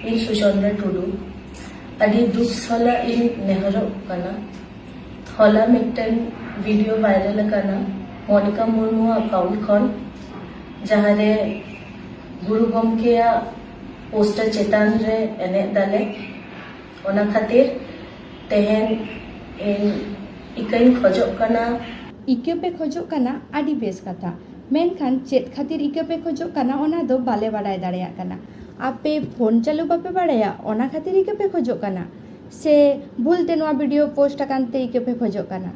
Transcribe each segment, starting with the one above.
ᱤᱧ ᱥᱩᱪᱚᱱᱫᱨᱟ ᱴᱩᱰᱩ ᱟᱹᱰᱤ ᱫᱩᱠ ᱥᱟᱞᱟᱜ ᱤᱧ ᱱᱮᱦᱚᱨᱚᱜ ᱠᱟᱱᱟ ᱦᱚᱞᱟ ᱢᱤᱫᱴᱮᱱ ᱵᱷᱤᱰᱤᱭᱳ ᱵᱷᱟᱭᱨᱟᱞ ᱟᱠᱟᱱᱟ ᱢᱚᱱᱤᱠᱟ ᱢᱩᱨᱢᱩ ᱟᱠᱟᱣᱩᱱᱴ ᱠᱷᱚᱱ ᱡᱟᱦᱟᱸ ᱨᱮ ᱜᱩᱨᱩ ᱜᱚᱢᱠᱮᱭᱟᱜ ᱯᱳᱥᱴᱟᱨ ᱪᱮᱛᱟᱱ ᱨᱮ ᱮᱱᱮᱡ ᱫᱟᱞᱮ ᱚᱱᱟ ᱠᱷᱟᱹᱛᱤᱨ ᱛᱮᱦᱮᱧ ᱤᱧ ᱤᱠᱟᱹᱧ ᱠᱷᱚᱡᱚᱜ ᱠᱟᱱᱟ᱾ ᱤᱠᱟᱹ ᱯᱮ ᱠᱷᱚᱡᱚᱜ ᱠᱟᱱᱟ ᱟᱹᱰᱤ ᱵᱮᱥ ᱠᱟᱛᱷᱟ᱾ ᱢᱮᱱᱠᱷᱟᱱ ᱪᱮᱫ ᱠᱷᱟᱹᱛᱤᱨ ᱤᱠᱟᱹ ᱯᱮ ᱠᱷᱚᱡᱚᱜ ᱠᱟᱱᱟ ᱚᱱᱟ ᱫᱚ ᱵᱟᱞᱮ ᱵᱟᱰᱟᱭ ᱫᱟᱲᱮᱭᱟᱜ ᱠᱟᱱᱟ᱾ ᱟᱯᱮ ᱯᱷᱳᱱ ᱪᱟᱹᱞᱩ ᱵᱟᱯᱮ ᱵᱟᱲᱟᱭᱟ ᱚᱱᱟ ᱠᱷᱟᱹᱛᱤᱨ ᱤᱠᱟᱹ ᱯᱮ ᱠᱷᱚᱡᱚᱜ ᱠᱟᱱᱟ? ᱥᱮ ᱵᱷᱩᱞ ᱛᱮ ᱱᱚᱣᱟ ᱵᱷᱤᱰᱤᱭᱳ ᱯᱳᱥᱴ ᱟᱠᱟᱱ ᱛᱮ ᱤᱠᱟᱹ ᱯᱮ ᱠᱷᱚᱡᱚᱜ ᱠᱟᱱᱟ?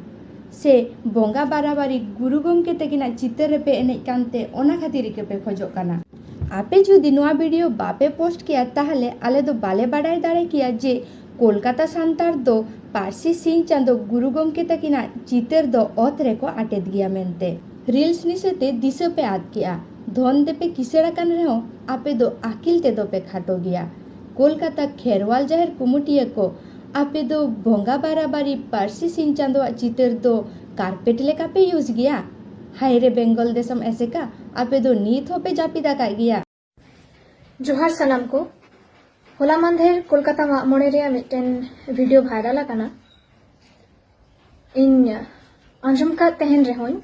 ᱥᱮ ᱵᱚᱸᱜᱟ ᱵᱟᱨᱟᱵᱟᱨᱤ ᱜᱩᱨᱩ ᱜᱚᱢᱠᱮ ᱛᱟᱹᱠᱤᱱᱟᱜ ᱪᱤᱛᱟᱹᱨ ᱨᱮᱯᱮ ᱮᱱᱮᱡ ᱠᱟᱱ ᱛᱮ ᱚᱱᱟ ᱠᱷᱟᱹᱛᱤᱨ ᱤᱠᱟᱹ ᱯᱮ ᱠᱷᱚᱡᱚᱜ ᱠᱟᱱᱟ? ᱟᱯᱮ ᱡᱩᱫᱤ ᱱᱚᱣᱟ ᱵᱷᱤᱰᱤᱭᱳ ᱵᱟᱯᱮ ᱯᱳᱥᱴ ᱠᱮᱭᱟ ᱛᱟᱦᱚᱞᱮ ᱟᱞᱮ ᱫᱚ ᱵᱟᱞᱮ ᱵᱟᱰᱟᱭ ᱫᱟᱲᱮ ᱠᱮᱭᱟ ᱡᱮ ᱠᱳᱞᱠᱟᱛᱟ ᱥᱟᱱᱛᱟᱲ ᱫᱚ ᱯᱟᱹᱨᱥᱤ ᱥᱤᱧ ᱪᱟᱸᱫᱚ ᱜᱩᱨᱩ ᱜᱚᱢᱠᱮ ᱛᱟᱹᱠᱤᱱᱟᱜ ᱪᱤᱛᱟᱹᱨ ᱫᱚ ᱚᱛ ᱨᱮᱠᱚ ᱟᱴᱮᱫ ᱜᱮᱭᱟ ᱢᱮᱱᱛᱮ᱾ ᱨᱤᱞᱥ ᱱᱤᱥᱟᱹ ᱛᱮ ᱫᱤᱥᱟᱹ ᱯᱮ ᱟᱫ ᱠᱮᱫᱼᱟ᱾ ᱫᱷᱚᱱ ᱛᱮᱯᱮ ᱠᱤᱥᱟᱹᱬ ᱟᱠᱟᱱ ᱨᱮᱦᱚᱸ ᱟᱯᱮ ᱫᱚ ᱟᱹᱠᱤᱞ ᱛᱮᱫᱚ ᱯᱮ ᱠᱷᱟᱴᱚ ᱜᱮᱭᱟ᱾ ᱠᱳᱞᱠᱟᱛᱟ ᱠᱷᱮᱨᱣᱟᱞ ᱡᱟᱦᱮᱨ ᱠᱩᱢᱩᱴᱤᱭᱟᱹ ᱠᱚ, ᱟᱯᱮ ᱫᱚ ᱵᱚᱸᱜᱟ ᱵᱟᱨᱟᱵᱟᱨᱤ ᱯᱟᱹᱨᱥᱤ ᱥᱤᱧ ᱪᱟᱸᱫᱚᱣᱟᱜ ᱪᱤᱛᱟᱹᱨ ᱫᱚ ᱠᱟᱨᱯᱮᱴ ᱞᱮᱠᱟ ᱯᱮ ᱤᱭᱩᱡᱽ ᱜᱮᱭᱟ᱾ ᱦᱟᱭ ᱨᱮ ᱵᱮᱝᱜᱚᱞ ᱫᱤᱥᱚᱢ ᱮᱥᱮᱠᱟ ᱟᱯᱮ ᱫᱚ ᱱᱤᱛ ᱦᱚᱸᱯᱮ ᱡᱟᱹᱯᱤᱫ ᱟᱠᱟᱫ ᱜᱮᱭᱟ ᱡᱚᱦᱟᱨ ᱥᱟᱱᱟᱢ ᱠᱚ ᱦᱚᱞᱟ ᱢᱟᱱᱫᱷᱮᱨ ᱠᱳᱞᱠᱟᱛᱟ ᱢᱟᱜ ᱢᱚᱬᱮ ᱨᱮᱭᱟᱜ ᱢᱤᱫᱴᱮᱱ ᱵᱷᱤᱰᱤᱭᱳ ᱵᱷᱟᱭᱨᱟᱞ ᱟᱠᱟᱱᱟ ᱤᱧ ᱟᱸᱡᱚᱢ ᱠᱟᱫ ᱛᱟᱦᱮᱱ ᱨᱮᱦᱚᱸᱧ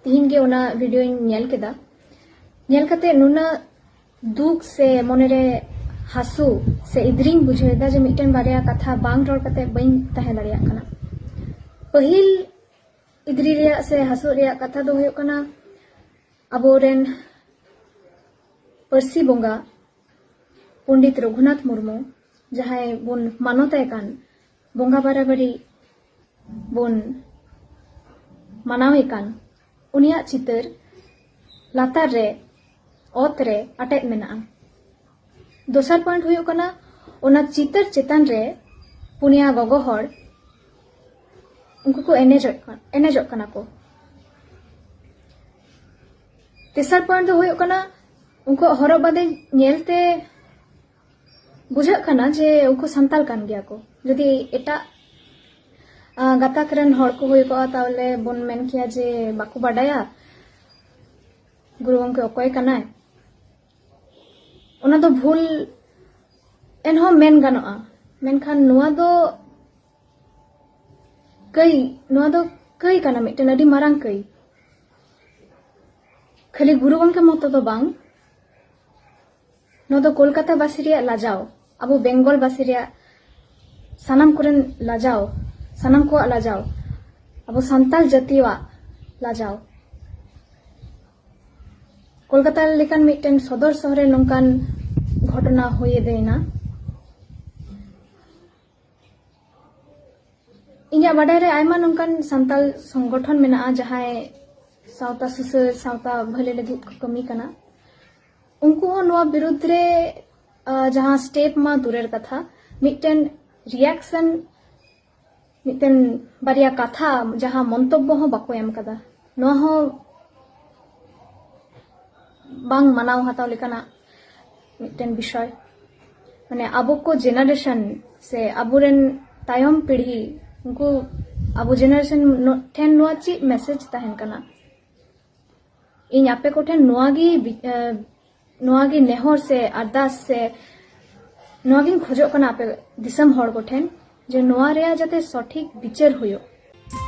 ᱛᱤᱦᱤᱧ ᱜᱮ ᱚᱱᱟ ᱵᱷᱤᱰᱤᱭᱳᱧ ᱧᱮᱞ ᱠᱮᱫᱟ ᱧᱮᱞ ᱠᱟᱛᱮ ᱱᱩᱱᱟᱹᱜ ᱫᱩᱠ ᱥᱮ ᱢᱚᱱᱮᱨᱮ ᱦᱟᱹᱥᱩ ᱥᱮ ᱤᱫᱨᱤᱧ ᱵᱩᱡᱷᱟᱹᱣᱮᱫᱟ ᱡᱮ ᱢᱤᱫᱴᱮᱱ ᱵᱟᱨᱭᱟ ᱠᱟᱛᱷᱟ ᱵᱟᱝ ᱨᱚᱲ ᱠᱟᱛᱮ ᱵᱟᱹᱧ ᱛᱟᱦᱮᱸ ᱫᱟᱲᱮᱭᱟᱜ ᱠᱟᱱᱟ ᱯᱟᱹᱦᱤᱞ ᱤᱫᱽᱨᱤ ᱨᱮᱭᱟᱜ ᱥᱮ ᱦᱟᱹᱥᱩᱜ ᱨᱮᱭᱟᱜ ᱠᱟᱛᱷᱟ ᱫᱚ ᱦᱩᱭᱩᱜ ᱠᱟᱱᱟ ᱟᱵᱚᱨᱮᱱ ᱯᱟᱹᱨᱥᱤ ᱵᱚᱸᱜᱟ ᱯᱚᱸᱰᱤᱛ ᱨᱚᱜᱷᱩᱱᱟᱛᱷ ᱢᱩᱨᱢᱩ ᱡᱟᱦᱟᱸᱭ ᱵᱚᱱ ᱢᱟᱱᱚᱛᱟᱭ ᱠᱟᱱ ᱵᱚᱸᱜᱟ ᱵᱟᱨᱟᱵᱟᱨᱤ ᱵᱚᱱ ᱢᱟᱱᱟᱣᱮ ᱠᱟᱱ ᱩᱱᱤᱭᱟᱜ ᱪᱤᱛᱟᱹᱨ ᱞᱟᱛᱟᱨ ᱨᱮ ᱚᱛ ᱨᱮ ᱟᱴᱮᱫ ᱢᱮᱱᱟᱜᱼᱟ ᱫᱚᱥᱟᱨ ᱯᱚᱭᱮᱱᱴ ᱦᱩᱭᱩᱜ ᱠᱟᱱᱟ ᱚᱱᱟ ᱪᱤᱛᱟᱹᱨ ᱪᱮᱛᱟᱱ ᱨᱮ ᱯᱩᱱᱭᱟ ᱜᱚᱜᱚ ᱦᱚᱲ ᱩᱱᱠᱩ ᱠᱚ ᱮᱱᱮᱡᱚᱜ ᱠᱟᱱᱟ ᱮᱱᱮᱡᱚᱜ ᱠᱟᱱᱟ ᱠᱚ ᱛᱮᱥᱟᱨ ᱯᱚᱭᱮᱱᱴ ᱫᱚ ᱦᱩᱭᱩᱜ ᱠᱟᱱᱟ ᱩᱱᱠᱩᱣᱟᱜ ᱦᱚᱨᱚᱜ ᱵᱟᱸᱫᱮ ᱧᱮᱞᱛᱮ ᱵᱩᱡᱷᱟᱹᱜ ᱠᱟᱱᱟ ᱡᱮ ᱩᱱᱠᱩ ᱥᱟᱱᱛᱟᱲ ᱠᱟᱱ ᱜᱮᱭᱟ ᱠᱚ ᱡᱩᱫᱤ ᱮᱴᱟᱜ ᱜᱟᱛᱟᱠ ᱨᱮᱱ ᱦᱚᱲ ᱠᱚ ᱦᱩᱭ ᱠᱚᱜᱼᱟ ᱛᱟᱦᱚᱞᱮ ᱵᱚᱱ ᱢᱮᱱ ᱠᱮᱭᱟ ᱡᱮ ᱵᱟᱠᱚ ᱵᱟᱰᱟᱭᱟ ᱜᱩᱨᱩ ᱜᱚᱢᱠᱮ ᱚᱠᱚᱭ ᱠᱟᱱᱟᱭ ᱚᱱᱟ ᱫᱚ ᱵᱷᱩᱞ ᱮᱱᱦᱚᱸ ᱢᱮᱱ ᱜᱟᱱᱚᱜᱼᱟ ᱢᱮᱱᱠᱷᱟᱱ ᱱᱚᱣᱟ ᱫᱚ ᱠᱟᱹᱭ ᱱᱚᱣᱟ ᱫᱚ ᱠᱟᱹᱭ ᱠᱟᱱᱟ ᱢᱤᱫᱴᱮᱱ ᱟᱹᱰᱤ ᱢᱟᱨᱟᱝ ᱠᱟᱹᱭ ᱠᱷᱟᱹᱞᱤ ᱜᱩᱨᱩ ᱜᱚᱢᱠᱮ ᱢᱚᱛᱚ ᱫᱚ ᱵᱟᱝ ᱱᱚᱣᱟ ᱫᱚ ᱠᱳᱞᱠᱟᱛᱟ ᱵᱟᱥᱤ ᱨᱮᱭᱟᱜ ᱞᱟᱡᱟᱣ ᱟᱵᱚ ᱵᱮᱝᱜᱚᱞ ᱵᱟᱥᱤ ᱨᱮᱭᱟᱜ ᱥᱟᱱᱟᱢ ᱠᱚᱨᱮᱱ ᱞᱟᱡᱟᱣ ᱥᱟᱱᱟᱢ ᱠᱚᱣᱟᱜ ᱞᱟᱡᱟᱣ ᱟᱵᱚ ᱥᱟᱱᱛᱟᱲ ᱡᱟᱹᱛᱤᱭᱟᱜ ᱞᱟᱡᱟᱣ ᱠᱳᱞᱠᱟᱛᱟ ᱞᱮᱠᱟᱱ ᱢᱤᱫᱴᱮᱱ ᱥᱚᱫᱚᱨ ᱥᱚᱦᱚᱨ ᱨᱮ ᱱᱚᱝᱠᱟᱱ ᱜᱷᱚᱴᱚᱱᱟ ᱦᱩᱭ ᱮᱫᱮᱱᱟ ᱤᱧᱟᱹᱜ ᱵᱟᱰᱟᱭ ᱨᱮ ᱟᱭᱢᱟ ᱱᱚᱝᱠᱟᱱ ᱥᱟᱱᱛᱟᱞ ᱥᱚᱝᱜᱚᱴᱷᱚᱱ ᱢᱮᱱᱟᱜᱼᱟ ᱡᱟᱦᱟᱸᱭ ᱥᱟᱶᱛᱟ ᱥᱩᱥᱟᱹᱨ ᱥᱟᱶᱛᱟ ᱵᱷᱟᱹᱞᱟᱹᱭ ᱞᱟᱹᱜᱤᱫ ᱠᱚ ᱠᱟᱹᱢᱤ ᱠᱟᱱᱟ ᱩᱱᱠᱩ ᱦᱚᱸ ᱱᱚᱣᱟ ᱵᱤᱨᱩᱫᱽ ᱨᱮ ᱡᱟᱦᱟᱸ ᱥᱴᱮᱯ ᱢᱟ ᱫᱩᱨᱮᱨ ᱠᱟᱛᱷᱟ ᱢᱤᱫᱴᱮᱱ ᱨᱤᱭᱟᱠᱥᱚᱱ ᱢᱤᱫᱴᱮᱱ ᱵᱟᱨᱭᱟ ᱠᱟᱛᱷᱟ ᱡᱟᱦᱟᱸ ᱢᱚᱱᱛᱚᱵᱵᱚ ᱦᱚᱸ ᱵᱟᱠᱚ ᱮᱢ ᱠᱟᱫᱟ ᱱᱚᱣᱟ ᱦᱚᱸ ᱵᱟᱝ ᱢᱟᱱᱟᱣ ᱦᱟᱛᱟᱣ ᱞᱮᱠᱟᱱᱟᱜ ᱢᱤᱫᱴᱮᱱ ᱵᱤᱥᱚᱭ ᱢᱟᱱᱮ ᱟᱵᱚ ᱠᱚ ᱡᱮᱱᱟᱨᱮᱥᱚᱱ ᱥᱮ ᱟᱵᱚᱨᱮᱱ ᱛᱟᱭᱚᱢ ᱯᱤᱲᱦᱤ ᱩᱱᱠᱩ ᱟᱵᱚ ᱡᱮᱱᱟᱨᱮᱥᱚᱱ ᱴᱷᱮᱱ ᱱᱚᱣᱟ ᱪᱮᱫ ᱢᱮᱥᱮᱡᱽ ᱛᱟᱦᱮᱱ ᱠᱟᱱᱟ ᱤᱧ ᱟᱯᱮ ᱠᱚᱴᱷᱮᱱ ᱱᱚᱣᱟ ᱜᱮ ᱱᱚᱣᱟ ᱜᱮ ᱱᱮᱦᱚᱨ ᱥᱮ ᱟᱨᱫᱟᱥ ᱥᱮ ᱱᱚᱣᱟ ᱜᱤᱧ ᱠᱷᱚᱡᱚᱜ ᱠᱟᱱᱟ ᱟᱯᱮ ᱫᱤᱥᱚᱢ ᱦᱚᱲ ᱠᱚᱴᱷᱮᱱ ᱡᱮ ᱱᱚᱣᱟ ᱨᱮᱭᱟᱜ ᱡᱟᱛᱮ ᱥᱚᱴᱷᱤᱠ ᱵᱤᱪᱟᱹᱨ ᱦᱩᱭᱩᱜ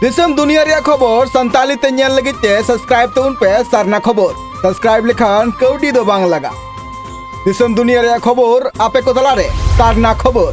ᱫᱤᱥᱚᱢ ᱫᱩᱱᱤᱭᱟᱹ ᱨᱮᱭᱟᱜ ᱠᱷᱚᱵᱚᱨ ᱥᱟᱱᱛᱟᱞᱤ ᱛᱮ ᱧᱮᱞ ᱞᱟᱹᱜᱤᱫ ᱛᱮ ᱥᱟᱵᱥᱠᱨᱟᱭᱤᱵ ᱛᱟᱵᱚᱱ ᱯᱮ ᱥᱟᱨᱱᱟ ᱠᱷᱚᱵᱚᱨ ᱥᱟᱵᱥᱠᱨᱟᱭᱤᱵ ᱞᱮᱠᱷᱟᱱ ᱠᱟᱹᱣᱰᱤ ᱫᱚ ᱵᱟᱝ ᱞᱟᱜᱟ ᱫᱤᱥᱚᱢ ᱫᱩᱱᱤᱭᱟᱹ ᱨᱮᱭᱟᱜ ᱠᱷᱚᱵᱚᱨ ᱟᱯᱮ ᱠᱚ ᱛᱟᱞᱟᱨᱮ ᱥᱟᱨᱱᱟ ᱠᱷᱚᱵᱚᱨ